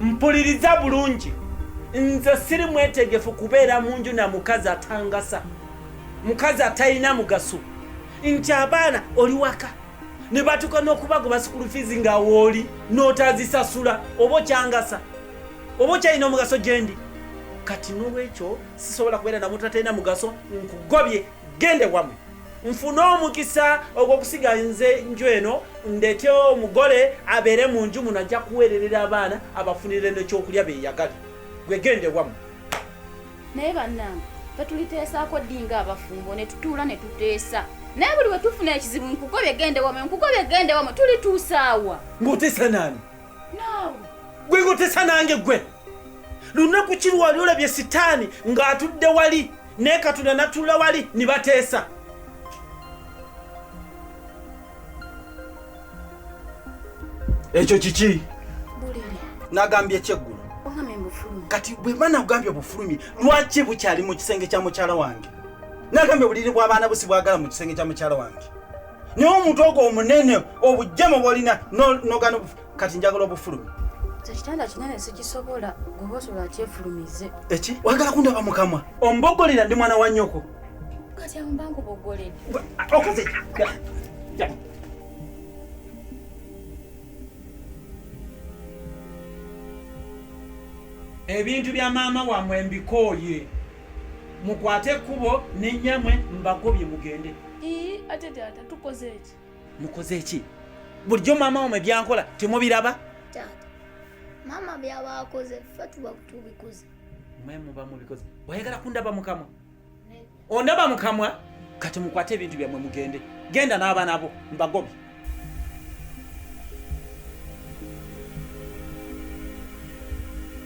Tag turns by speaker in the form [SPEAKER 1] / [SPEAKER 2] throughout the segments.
[SPEAKER 1] mpuliriza bulungi nze siri mwetegefu kubeera mu nju na mukazi atangasa mukazi atalina mugaso nti abaana oli waka ne batuuka n'okubagoba sikulu fiizi nga wooli n'otazisasula oba okyangasa oba okyalina omugaso gyendi kati n'olwekyo sisobola kubeera namuntu atalina mugaso nkugobye gende wamwe nfune omukisa ogw'okusiga nze nju eno ndete omugole abeere mu nju muno ajja kuweererera abaana abafunire nekyokulya beyagali gwegende wamwe
[SPEAKER 2] naye bannange tetuliteesaako ddi nga abafumbo ne tutuula ne tuteesa naye buli we tufuna ekizibu nkugobye gende wamwe nkugobye gende wamwe tulituusaawa ng'oteesa naani
[SPEAKER 1] naawe
[SPEAKER 2] gwe ng'oteesa
[SPEAKER 1] nange gwe lunaku ki lwali olabye sitaani ng'atudde wali naye katonda natuula wali ne bateesa ekyo kiki
[SPEAKER 2] nagambye
[SPEAKER 1] ekyeggulo
[SPEAKER 2] kati bwemba nagambye
[SPEAKER 1] obufulumi lwaki bukyali mu kisenge kya mukyala wange nagambye obuliri bw'abaana busi bwagala mu kisenge kya mukyala wange naye omuntu ogwo omunene obujjama bwolina nogana kati njagala obufulumi ekitanda kinene
[SPEAKER 2] sikisobola goba osobola akyefulumize eki wagala
[SPEAKER 1] kundaba mukamwa ombogolera ndi mwana wa nyoko kati ambangu
[SPEAKER 2] bogolera okoze
[SPEAKER 1] ebintu bya maama wamwe mbikooye mukwate ekkubo nenyamwe mbagobye mugende ate taata
[SPEAKER 3] tukoze eki mukoze ki
[SPEAKER 1] bulijjo maama wamwe byankola temubiraba taata
[SPEAKER 4] maama byaba akoze ffe tuba tubikoze mwe muba
[SPEAKER 1] mubikoze oyagala kundaba mukamwa ondaba mukamwa kati mukwate ebintu byamwe mugende genda n'abaana bo mbagobi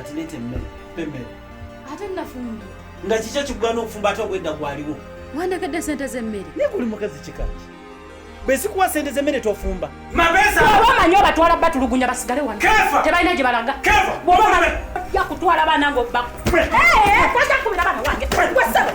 [SPEAKER 1] Ati lete mmere, pembere. Ate
[SPEAKER 2] nafumbi. Nga kikyo kikugana
[SPEAKER 1] okufumba ate obwedda gwaliwo. Wandagadde sente
[SPEAKER 2] z'emmere. Naye guli mukazi kikaki?
[SPEAKER 1] Bwe sikuwa sente z'emmere tofumba. Mabesa. Baba
[SPEAKER 5] manyo batwala batulugunya basigale wano. Kefa. Tebalina gye balaga. Kefa. Bw'oba nabe. Ya kutwala abaana ng'obba. Eh, eh, eh, kwasa kubira abaana wange. Kwasa.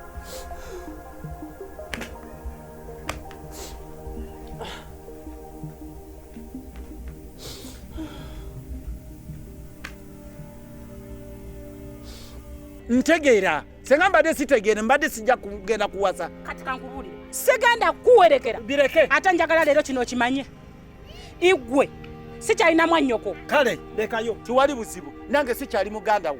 [SPEAKER 1] ntegeera senga mbadde sitegeere mbadde sijja kugenda kuwasa kati kankubulire
[SPEAKER 5] sigenda kukuwerekera bireke ate njagala
[SPEAKER 1] leero kino
[SPEAKER 5] okimanye igwe sikyalina mwannyoko kale lekayo
[SPEAKER 1] tiwali buzibu nange sikyali muganda wo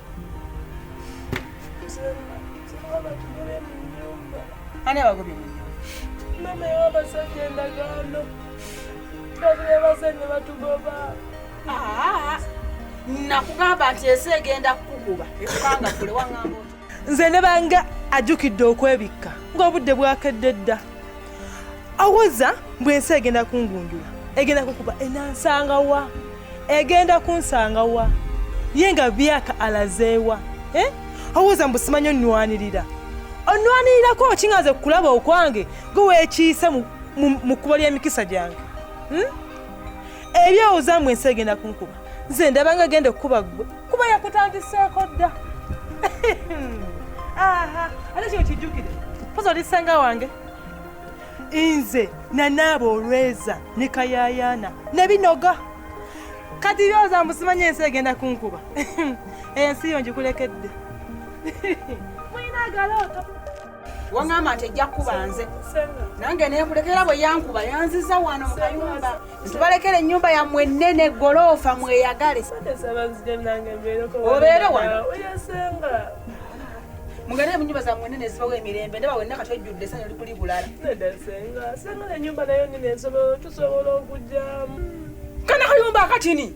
[SPEAKER 5] nakugamba nti ensi egenda kukukuba ekubanga kule waŋamba nze ne bange
[SPEAKER 3] ajjukidde okwebikka ng'obudde bwakedde dda awoza mbu ensi egenda kungunjula egenda kukuba enansanga wa egenda kunsanga wa ye nga byaka alazeewa eh? awoza mbu simanyi onnwanirira onnwanirirako okingaze kukulaba okwange gwe weekiise mu kkubo ly'emikisa gyange hmm? ebyowoza mbu ensi egenda kunkuba nze ndabanga genda okukuba gwe kuba yakutandiseeko dda ate kino kijjukire poza oli senga wange nze nanaaba olweza ne kayayaana ne binoga kati byoza mbusimanya ensi egenda kunkuba ensi yo njikulekedde mulina agalooto wangamba
[SPEAKER 5] nti ejja kukuba nze nange nekulekera bwe yankuba yanziza wano mu kayumba ntubalekera ennyumba yammwe ennene goloofa mweyagale obeere wano mugende mu nyumba zammwe ennene ezibawo emirembe ndaba wenna kati ojjudde esanyu likuli bulala
[SPEAKER 3] kana
[SPEAKER 5] kayumba akatini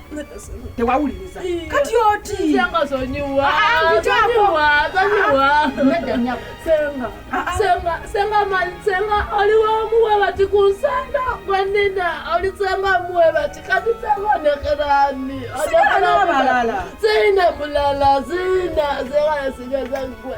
[SPEAKER 3] tewawuliriza kati oti senga oliwomuwe bati kunsenda gwenina olisenga muwe bati kati senga nekerani
[SPEAKER 5] sina
[SPEAKER 3] mulala sina senga sigeza gwe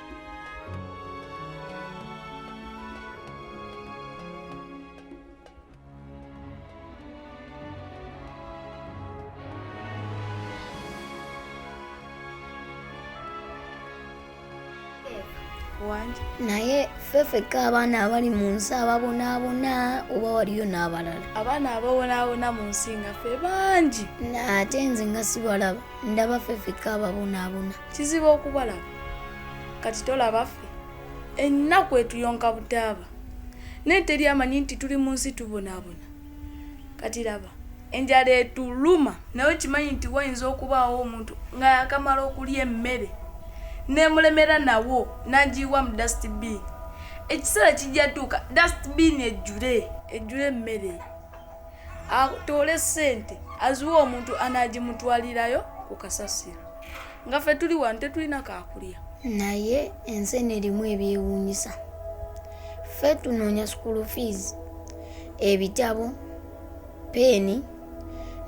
[SPEAKER 2] naye
[SPEAKER 4] fefeka abaana abali mu nsi ababonaabona oba waliyo n'abalala abaana ababonaabona
[SPEAKER 2] mu nsi nga fe bangi ate nze
[SPEAKER 4] nga sibalaba ndaba fefeka ababonaabona kizibu okubalaba
[SPEAKER 2] kati tolaba ffe ennaku etuyonka butaaba naye teri amanyi nti tuli mu nsi tubonaabona kati laba enjala etuluma naye okimanyi nti wayinza okubaawo omuntu nga yakamala okulya emmere nemulemera nawo nagiyiwa mu dustbin ekiseera kijja tuuka dustbin ejjule ejjule emmere atoole sente aziwa omuntu anagimutwalirayo ku kasasiro nga fe tuli wano tetulina kakulya naye
[SPEAKER 4] ensi eno erimu ebyewuunyisa fe tunoonya school fees ebitabo peeni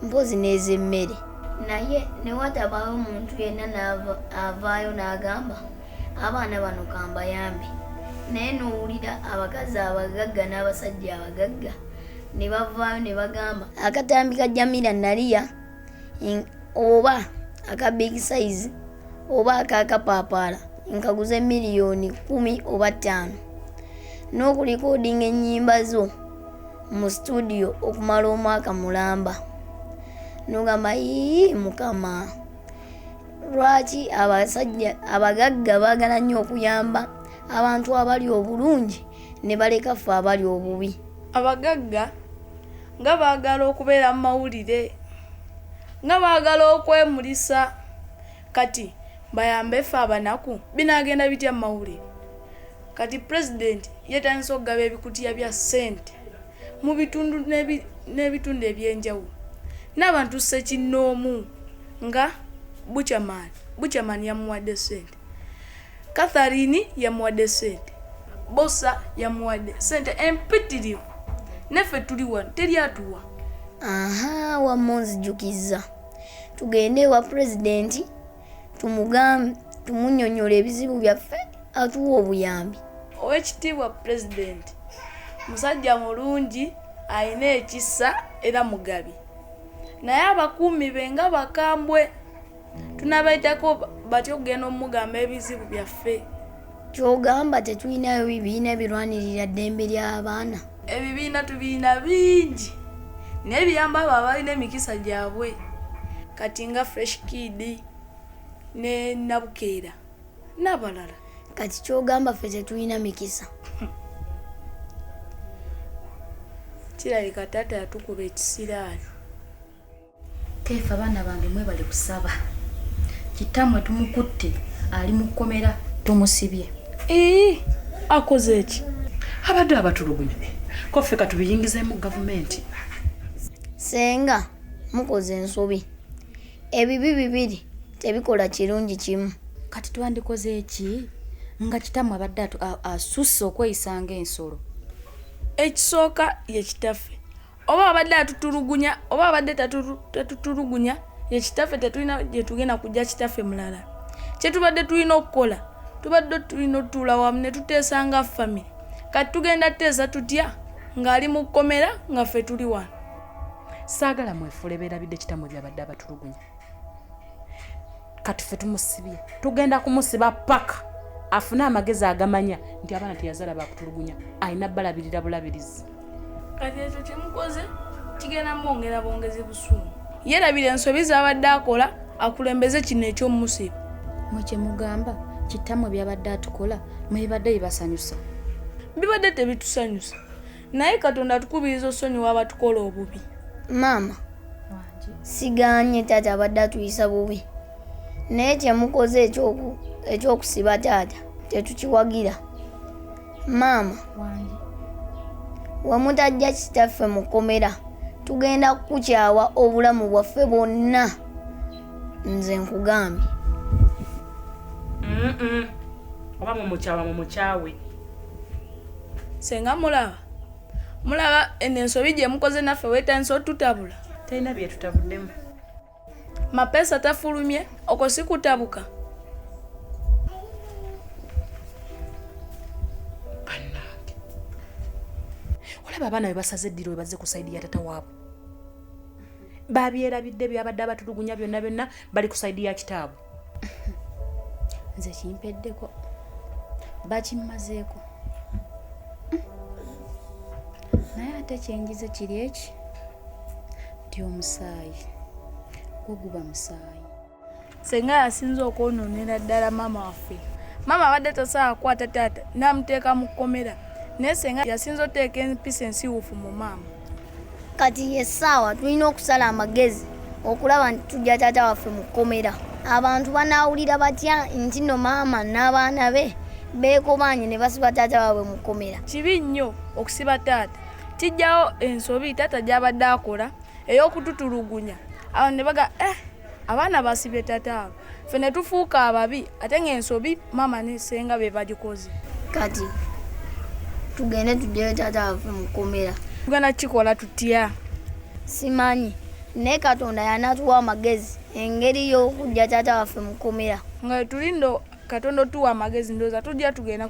[SPEAKER 4] mpozi n'ez'emmere naye newatabawo omuntu yenna avaayo n'agamba abaana bano kambayambe naye nowulira abakazi abagagga n'abasajja abagagga ne bavaayo ne bagamba akatambi ka jamira naliya oba aka big size oba akakapaapaala nkaguze miliyoni kumi oba ttaano n'okulikodinga ennyimba zo mu situdiyo okumala omwaka mulamba nogamba ii mukama lwaki abasajja abagagga baagala nnyo okuyamba abantu abali obulungi ne baleka ffe abali obubi abagagga
[SPEAKER 2] nga baagala okubeera mu mawulire nga baagala okwemulisa kati bayambe ffe abanaku binaagenda bitya mu mawulire kati pulezidenti yetandisa okugaba ebikutiya bya ssente mu bitundu n'ebitundu eby'enjawulo n'abantu ssekinnoomu nga buchaman buchaman yamuwadde ssente katharini yamuwadde ssente bosa yamuwadde ssente empitirivu naffe tuli wano teri atuwa aha
[SPEAKER 4] wamma onzijukizza tugende ewa pulezidenti tumugambe tumunyonyola ebizibu byaffe atuwa obuyambi owekitiibwa
[SPEAKER 2] pulezidenti musajja mulungi alina ekisa era mugabi naye abakuumi be nga bakambwe tunabaitako batya okugenda omugamba ebizibu byaffe Kyogamba
[SPEAKER 4] tetulinayo bibiina birwanirira ddembe ly'abaana? Ebibiina
[SPEAKER 2] tubiina bingi naye biyamba abo abalina emikisa gyabwe kati nga fresh kid ne nabukeera n'abalala. Kati
[SPEAKER 4] kyogamba ffe tetulina mikisa?
[SPEAKER 2] Kirabika taata yatukuba ekisiraani.
[SPEAKER 6] Keefa abaana bange mwebale kusaba kitamwe tumukutte ali mu kkomera tumusibye ee
[SPEAKER 2] akoze eki abadde abatulugunya
[SPEAKER 1] koffe katubiyingizeemu gavumenti
[SPEAKER 4] senga mukoze ensobi ebibi bibiri tebikola kirungi kimu kati twandikoze
[SPEAKER 6] eki nga kitamu abadde atu- a- asusse okweyisa ng'ensolo ekisooka
[SPEAKER 2] ye kitaffe oba abadde atutulugunya oba abadde tatutulugunya ye kitaffe tetulina gyetugenda kujja kitaffe mulala kyetubadde tulina okukola tubadde tulina otuula wamu ne tuteesa nga famire kati tugenda tuteesa tutya ng'ali mu kkomera nga ffe tuli wano saagala
[SPEAKER 1] mwefule beerabidde kitamwe byabadde abatulugunya kati fe tumusibye tugenda kumusiba paka afune amagezi agamanya nti abaana teyazala bakutulugunya alina balabirira bulabirizi kati ekyo
[SPEAKER 2] kyemukoze kigenda mwongera bwongezi busungu yerabira ensobi zabadde akola akulembeze kino ekyomusiba mwe kyemugamba
[SPEAKER 6] kitamwe byabadde atukola mwebibadde bibasanyusa bibadde
[SPEAKER 2] tebitusanyusa naye katonda atukubiriza osonyiwa abatukola obubi maama
[SPEAKER 4] siganye taata abadde atuyisa bubi naye kyemukoze ekyokusiba taata tetukiwagira maama wemutajja kitaffe mu kkomera tugenda kukukyawa obulamu bwaffe bwonna nze nkugambye
[SPEAKER 1] oba mumukyawa mumukyawe
[SPEAKER 2] senga mulaba mulaba eno ensobi gye mukoze naffe weetandisa otutabula talina bye tutabuddemu mapesa tafulumye okwo si kutabuka
[SPEAKER 1] olaba abaana be basaze eddiro we bazze ku saidi ya tata waabwe babyerabidde byabadde abatulugunya byonna byonna bali ku saidi ya kitaabwe nze kimpeddeko
[SPEAKER 6] bakimmazeeko naye ate kyenjize kiri eki nti omusaayi gwo guba musaayi senga
[SPEAKER 2] yasinza okwononera ddala maama waffe maama abadde tasobola kukwata taata namuteeka mu kkomera naye senga yasinza oteeka empisa ensiwufu mu maama kati
[SPEAKER 4] essaawa tulina okusala amagezi okulaba nti tujja taata waffe mu kkomera abantu banaawulira batya nti no maama n'abaana be beekobaanye ne basiba taata waabwe mu kkomera kibi nnyo
[SPEAKER 2] okusiba taata kijjawo ensobi taata gy'abadde akola ey'okututulugunya awo ne baga eh abaana basibye tataabwe fe ne tufuuka ababi ate ng'ensobi maama ne senga be bagikoze kati
[SPEAKER 4] tugende tuddeyo tataabwe mu kkomera tugenda kukikola
[SPEAKER 2] tutya simanyi
[SPEAKER 4] naye katonda yanatuwa amagezi engeri y'okujja taata waffe mukomera nga tulindo
[SPEAKER 2] katonda otuwa amagezi ndoza tujja tugenda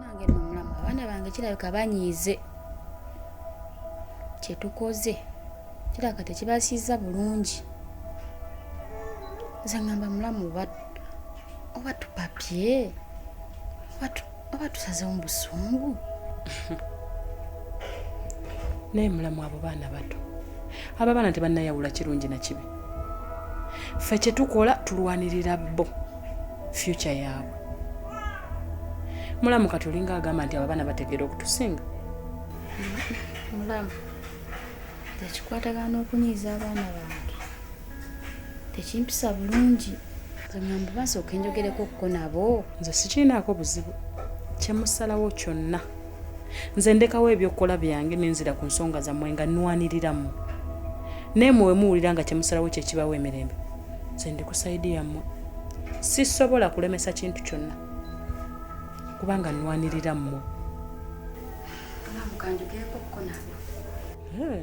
[SPEAKER 6] nange no mulamu abaana bange kirabika banyiize kyetukoze kirabika tekibasiiza bulungi nze ngamba mulamu oba tupapye oba tusazewo mu busungu
[SPEAKER 1] naye mulamu abo baana bato abo abaana tebannayawula kirungi na kibi ffe kyetukola tulwanirira bo fyuca yaabwe mulamu kati olinga agamba nti ababaana bategeera okutusinga mulamu
[SPEAKER 6] tekikwatagana n'okunyiiza abaana bange tekimpisa bulungi zamuyambu basooka enjogereko okuko nabo nze sikiinaako
[SPEAKER 1] buzibu kyemusalawo kyonna nze ndekawo ebyokukola byange nenzira ku nsonga zammwe nga nwaniriramu naye mwe wemuwulira nga kyemusalawo kyekibawo emirembe nze ndi ku sayidi yammwe sisobola kulemesa kintu kyonna kubanga nnwanirira mmwe
[SPEAKER 6] hmm.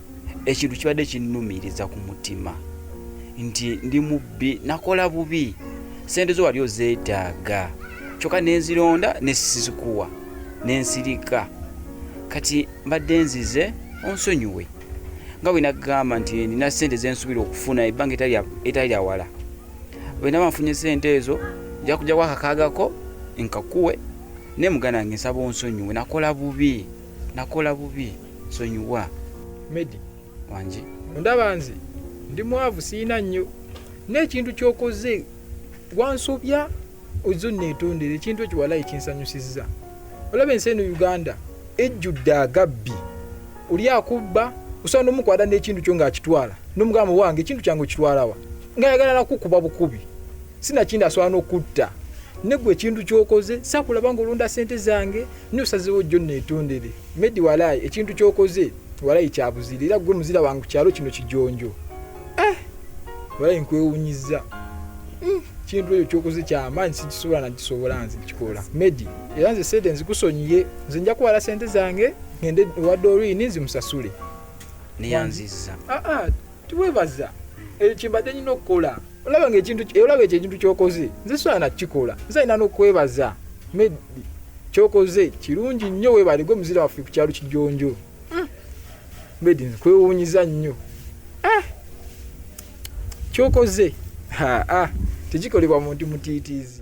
[SPEAKER 7] ekintu kibadde kinnumiriza ku mutima nti ndi mubbi nakola bubi sente zo wali ozeetaaga kyokka nenzironda nesizikuwa nensirika kati mbadde nzize onsonyiwe nga bwe nagamba nti nina sente zensubira okufuna ebbanga etali lyawala bwe naba nfunye sente ezo nja kujja kwakakaagako nkakuwe naye muganda wange nsaba onsonyiwe nakola bubi nakola bubi nsonyiwa. Medi
[SPEAKER 8] wangi
[SPEAKER 7] ondaba nze
[SPEAKER 8] ndi mwavu siyina nnyo n'ekintu kyokoze wansobya ozze onneetondera ekintu ekyo walayi kinsanyusizza olaba ensi eno uganda ejjudde agabbi oli akubba osobola nomukwata n'ekintu kyo ng'akitwala nomugamba wange ekintu kyange okitwalawa ngaayagala nakukuba bukubi sinakindi asobola nokutta negwe ekintu kyokoze sakulaba nga olonda sente zange nosazewo jjo netondere medi walayi ekintu kyokoze walayi kyabuzira era gwe muzira wange kukyalo kino kijonjo eh, walayi nkwewunyiza mm, kintu ekyo kyokoze kyamaanyi sikisobola nakisobola nze kikola medi era nze sente nzikusonyiye nze nja kuwala sente zange ngende ewa dorini nzimusasule neyanziza
[SPEAKER 7] ah, ah.
[SPEAKER 8] tiwebaza ekyo kyembadde nina okukola olaba nga ekintu olaba ekyo ekintu kyokoze nze sola nakikola nze alina nokwebaza medi kyokoze kirungi nnyo webaligwe muzira waffe ku kyalo kijonjo hmm. medi nkwewunyiza nnyo ah. kyokoze tekikolebwa muntu mutiitiizi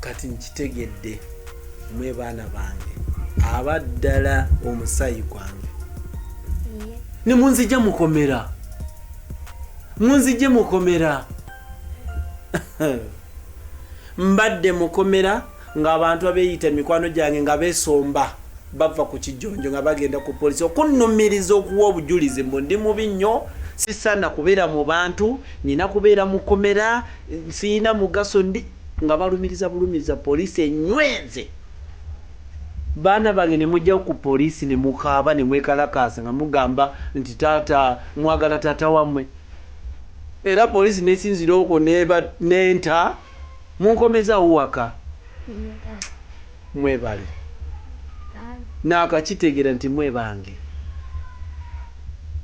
[SPEAKER 1] kati nkitegedde mwe baana bange abaddala omusaayi gwange ne munzija mukomera munzije mukomera mbadde mukomera ng'abantu abeeyita emikwano gyange nga beesomba bava ku kijjonjo nga bagenda ku polisi okunnumiriza okuwa obujulizi mbu ndi mubi nnyo sisaana kubeera mu bantu nina kubeera mukomera Siyina mugaso ndi nga balumiriza bulumiza police enywe nze. Baana bange ne mujja ku police ne mukaaba ne mwekalakaasa nga mugamba nti taata mwagala taata wamwe era police nesinzira okwo neba nenta munkomezaawo waka. Mwebale naakakitegera nti mwe bange.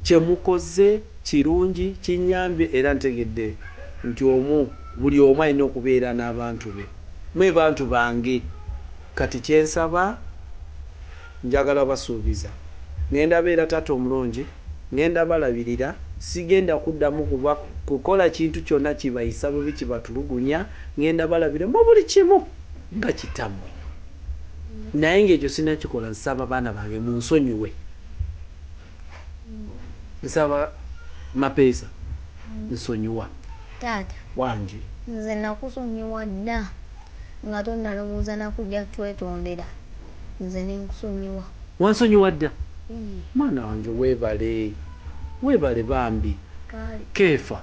[SPEAKER 1] Kyemukoze kirungi kinyambye era ntegedde nti omu buli omu alina okubeera n'abantu be. Mwe bantu bange kati kyensaba njagala basuubiza ngenda beera taata omulungi, ngenda balabirira, sigenda kuddamu kukola kintu kyonna kibayisa bubi kibatulugunya, ngenda balabira mubuli kimu. nga kitamwe naye nga ekyo sinakikola nsaba baana bange munsonyiwe nsaba mapeesa nsonyiwa Taata
[SPEAKER 4] wange.
[SPEAKER 1] nze
[SPEAKER 4] nakusonyiwa dda nga tonalowooza nakuja twetondera nze nenkusonyiwa. Wansonyiwa dda
[SPEAKER 1] mwana wange webale webale bambi Kaale. keefa.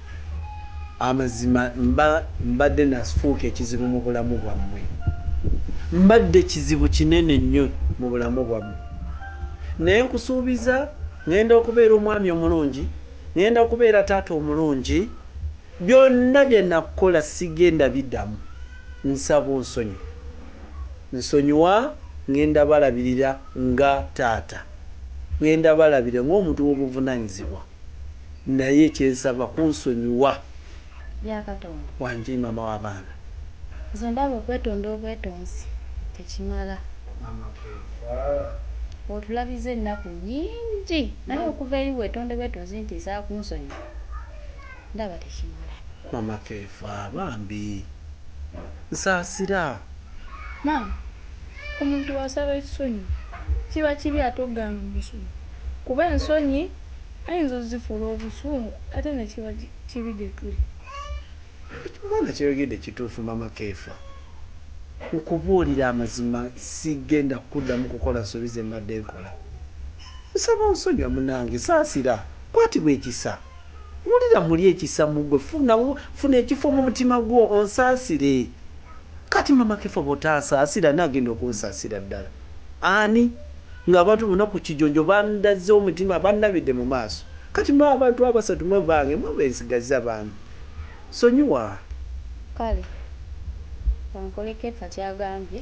[SPEAKER 1] Amazima mba mbadde nafuuka ekizibu mu bulamu bwammwe. Mbadde kizibu kinene nnyo mu bulamu bwammwe. Naye nkusuubiza ŋŋenda okubeera omwami omulungi, ŋŋenda kubeera taata omulungi. Byonna bye nakukola sigenda biddamu. Nsaba onsonyiwe. Nsonyiwa, ŋŋenda balabirira nga taata. Ŋŋenda balabirira ng'omuntu w'obuvunaanyizibwa. Naye kyensaba kunsonyiwa. Bya
[SPEAKER 6] katonda. Wanjii mama
[SPEAKER 1] wa baana. Nze ndaba
[SPEAKER 6] okwetonda obwetonzi tekimala. Maama keefa. Otulabizza ennaku nyingi naye okuva eri wetonde bwetonzi nti nsaba kunsonyiwa ndaba tekimala. Mama keefa
[SPEAKER 1] bambi nsasira.
[SPEAKER 2] Maama omuntu bwasaba ekisonyiwo kiba kibi ate ogana omusonyiwa kuba ensonyi. ayinza ozifuula obusungu ate nekiba kibi gyetuli. Ekyo
[SPEAKER 1] omwana kyayogedde kituufu mama keefa nkubuulire amazima sigenda kuddamu kukola nsobi zembadde nkola nkusaba onsonyiwe munange saasira kwatibwa ekisa wulira muli ekisa mugwe funa funa ekifo mumutima gwo onsaasire kati mama keefa bwotansaasira ani agenda okunsasira ddala. Ani? Nga abantu bonna ku kijonjo bandazze omutima, bannabidde mu maaso. Kati mmwe abantu abasatu mmwe bange, mmwe be nsigazza, bambi. Sonyiwa. Kale,
[SPEAKER 6] ka nkuleke, ka ky'agambye,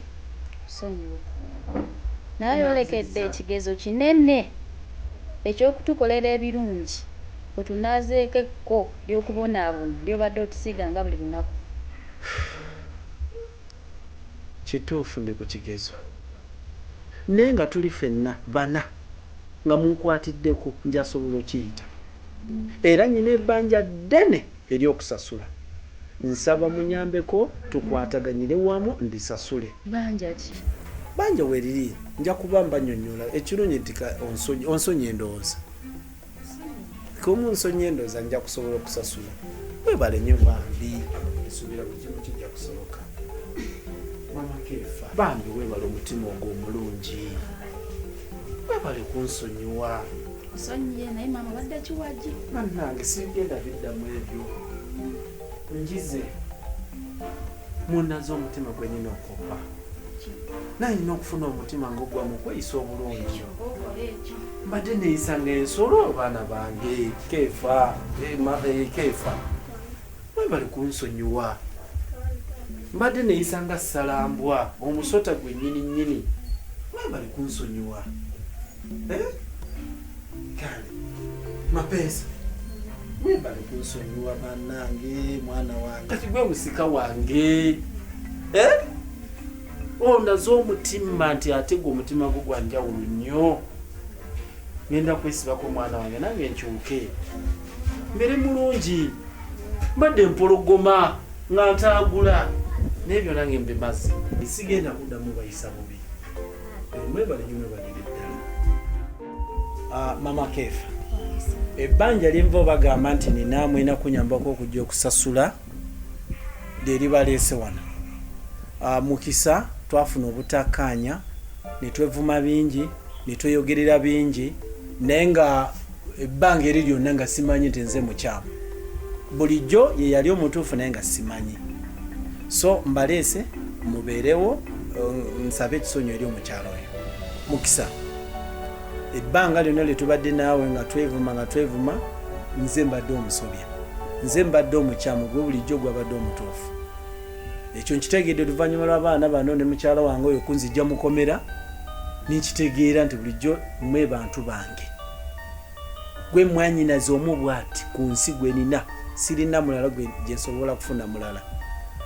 [SPEAKER 6] kusonyiwa. Naye ayolekedde ekigezo kinene eky'okutukolera ebirungi, otunaazeeko ekko ly'okubonaabona ly'obadde otusiga nga buli lunaku.
[SPEAKER 1] Kituufu ndi ku kigezo naye nga tuli fenna bana nga munkwatiddeko njasobola okiyita era nyina ebanja ddene eryokusasula nsaba munyambeko tukwataganyire wamu ndisasule. Banja ki?
[SPEAKER 6] Banja weriri
[SPEAKER 1] njakuba mbanyonyola ekirungi nti onsonyiye ndowooza. komu nsonyi endoza nja kusobola okusasula webale nyo bambi esubira kukimu kijja kusoboka bambi webale omutima ogwo omulungi webale kunsonyiwa
[SPEAKER 2] banange sigenda
[SPEAKER 1] biddamu ebyo njize munaze omutima gwenyina okopa naye nina okufuna omutima nga ogwa mu kweyisa obulungi mbadde neyisa nga ensolo abaana bange keefa keefa webali kunsonyiwa mbadde neyisa nga salambwa omusota gwe nyini nyini webali kunsonyiwa eh? kale mapeesa webale kunsonyiwa banange mwana wange kati gwe musika wange eh? ondaze oh, omutima nti ate gwe omutima gwo gwanjawulo nnyo ngenda kwesibako omwana wange nange nkyuke mbere mulungi mbadde mpologoma nga ntaagula naye byona nge mbimazi sigenda kuddamu bayisa bubi mwebale nyo mwebalire ddala ah, mama keefa ebbanja lyenva obagamba nti nina mwena kunyambako okujja okusasula lyeribaleese wano ah, mukisa twafuna obutakkaanya netwevuma bingi netweyogerera bingi naye nga ebbanga eri lyonna nga simanyi nti nze mukyamu bulijjo yeyali omutuufu naye nga simanyi so mbaleese mubeerewo um, nsabe ekisonyo eri omukyalo oyo mukisa ebbanga lyonna lye tubadde naawe nga twevuma nga twevuma nze mbadde omusobya nze mbadde omukyamu gwe bulijjo gwabadde omutuufu ekyo nkitegedde oluvannyuma lw'abaana bano ne mukyala wange oyo kunzijja mukomera ninkitegeera nti bulijjo mwe bantu bange gwe mwanyinaze omu bwati ku nsi gwenina sirina mulala gyesobola kufuna mulala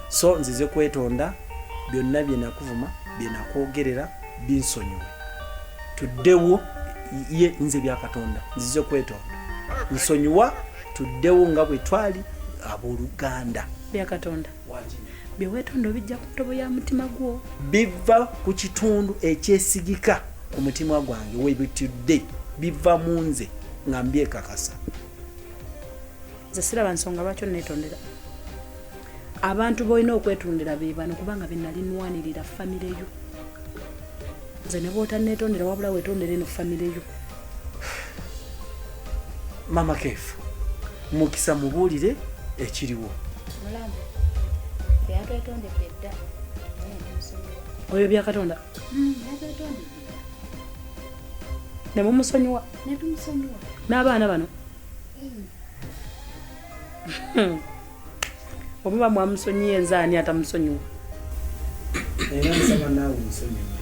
[SPEAKER 1] so nzize kwetonda byonna byenakuvuma byenakwogerera binsonyiwe tuddewo ye nze byakatonda nzize kwetonda nsonyiwa tuddewo nga bwe twali abooluganda byakatonda
[SPEAKER 5] byewetonda obijja ku ntobo ya mutima gwo biva ku
[SPEAKER 1] kitundu ekyesigika ku mutima gwange webitudde biva mu nze nga mbyekakasa
[SPEAKER 5] nze siraba nsonga lwaki onetondera abantu bolina okwetundira bebano kubanga benalinwanirira famireyo nze ne bwotanneetondera wabula weetondera eno famire yo
[SPEAKER 1] mama keefu mukisa mubuulire ekiriwo mulamu
[SPEAKER 6] yatwetondedde dda
[SPEAKER 5] oyo byakatonda hmm, ne mumusonyiwa
[SPEAKER 6] n'abaana bano hmm.
[SPEAKER 5] omuba mwamusonyiye nze ani atamusonyiwa
[SPEAKER 1] era nsaba naawe nsonyiwe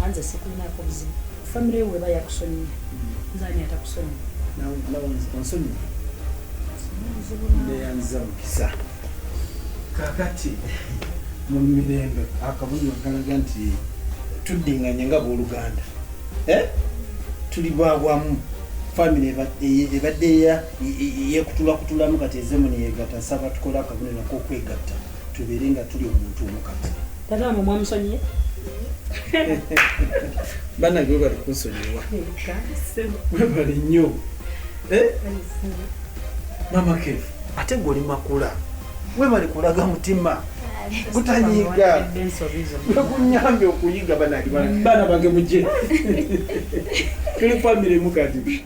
[SPEAKER 1] anze sikulinaako
[SPEAKER 5] buzibu famire ewe eba yakusonyiye hmm. nze ani
[SPEAKER 1] atakusonyiwa onsonyiwa neyanziza mukisa kakati mu mirembe akabonero kalaga nti tuddinganye nga booluganda eh? tuli bwabwamu famire ebadde eya yekutulakutulamu kati ezemu neyegata nsaba tukole akabonero kokwegatta tubeere nga tuli omuntu omu kati tatamu mwamusonyiye banage webali kunsonyiwa webali nnyo eh? mama kefu ate goli makula webali kulaga mutima kutanyiga nekunyambye okuyiga banage bana bange muje tuli famire mukadi